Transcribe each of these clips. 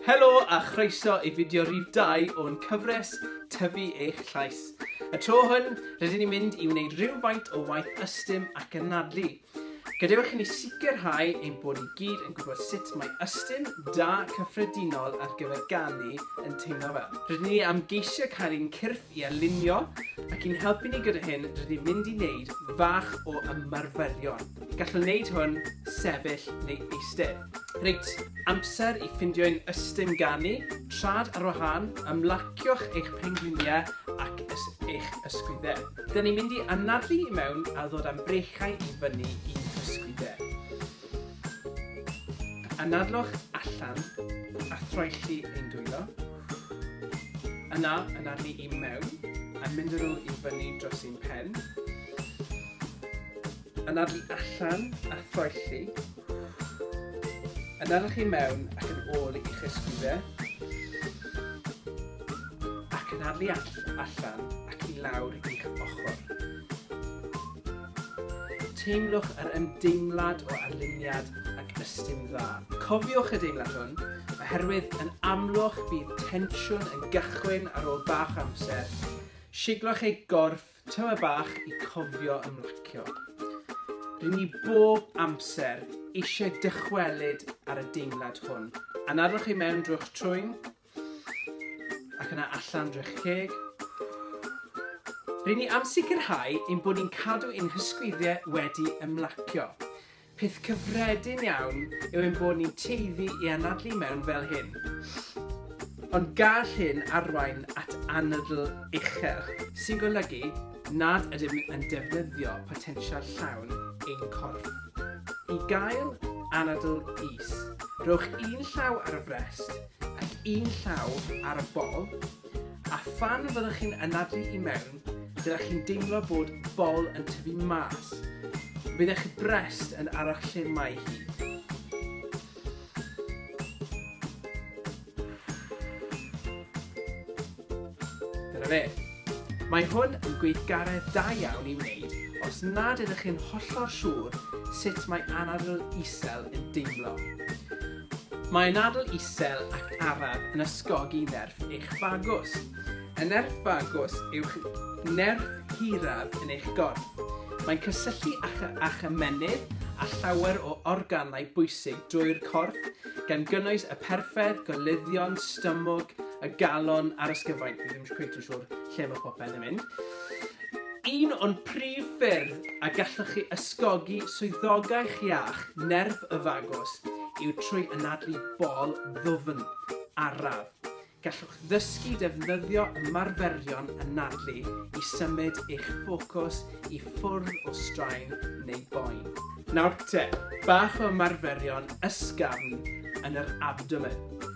Helo a chroeso i fideo rif 2 o'n cyfres Tyfu Eich Llais. Y tro hwn, rydyn ni'n mynd i wneud rhywfaint o waith ystym ac anadlu. Gadewch i ni sicrhau ein bod i gyd yn gwybod sut mae ystym da cyffredinol ar gyfer ganu yn teimlo fel. Rydyn ni am geisio cael ein cyrff i alinio ac i'n helpu ni gyda hyn rydyn ni'n mynd i wneud fach o ymarferion. Gallwn wneud hwn sefyll neu eistedd. Reit, amser i ffindio un ystum ganu, trad ar wahân, ymlacio'ch eich pengliniau ac ys eich ysgwyddau. Dyn ni'n mynd i anadlu i mewn a ddod am breichiau i fyny i'n hysgwyddau. Anadlwch allan a throelli ein dwylo. Yna, anadlu i mewn a mynd â nhw i fyny dros ein pen. Anafu allan a thoelli. Anafwch i mewn ac yn ôl i'ch ysgwyddau. Ac anafu allan ac i lawr i'ch ochr. Teimlwch yr ymdeimlad o arluniad ac ystym dda. Cofiwch y deimlad hwn, oherwydd yn amlwg bydd tensiwn yn gychwyn ar ôl bach amser. Siglwch eich gorff Tymer bach i cofio ymlacio. Rŷn ni bob amser eisiau dychwelyd ar y deimlad hwn. Anadlwch chi mewn drwy'ch trwyn, ac yna allan drwy'ch ceg. Rŷn ni am sicrhau ein bod ni'n cadw ein hysgwyddie wedi ymlacio. Peth cyffredin iawn yw ein bod ni'n tueddu i anadlu mewn fel hyn. Ond gall hyn arwain at anadl uchel, sy'n golygu nad ydym yn defnyddio potensial llawn ein corff. I gael anadl is, rhowch un llaw ar y frest ac un llaw ar y bol, A phan fyddwch chi'n anadlu i mewn, dylech chi'n deimlo bod bol yn tyfu mas. Bydd eich brest yn aros lle mae hi. Dyna fe. Mae hwn yn gweithgaredd da iawn i wneud os nad ydych chi'n hollol siŵr sut mae anadl isel yn deimlo. Mae nadl isel ac araf yn ysgogi nerth eich fagus. Y nerth fagus yw'ch nerth hiraf yn eich gorff. Mae'n cysylltu â'ch â'ch ymennydd a llawer o organau bwysig drwy'r corff, gan gynnwys y perfedd, goluddion, stumog, y galon a'r ysgyfaint, fi ddim cweit yn siŵr lle mae popeth yn mynd. Un o'n prif ffyrdd a gallwch chi ysgogi swyddogaeth iach nerf y fagos yw trwy anadlu bol ddwfn araf. Gallwch ddysgu defnyddio ymarferion anadlu i symud eich ffocws i ffwrdd o straen neu boen. Nawr te, bach o ymarferion ysgafn yn yr abdomen.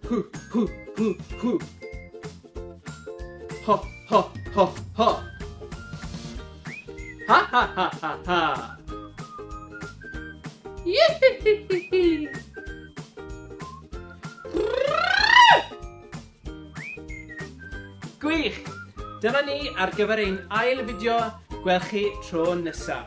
Hw, hw, hw, hw. Ho, ho, ho, ho. Ha, ha, ha, ha, ha. Yihihihihi. Gwych! Dyna ni ar gyfer ein ail fideo. Gwelch chi tro nesaf.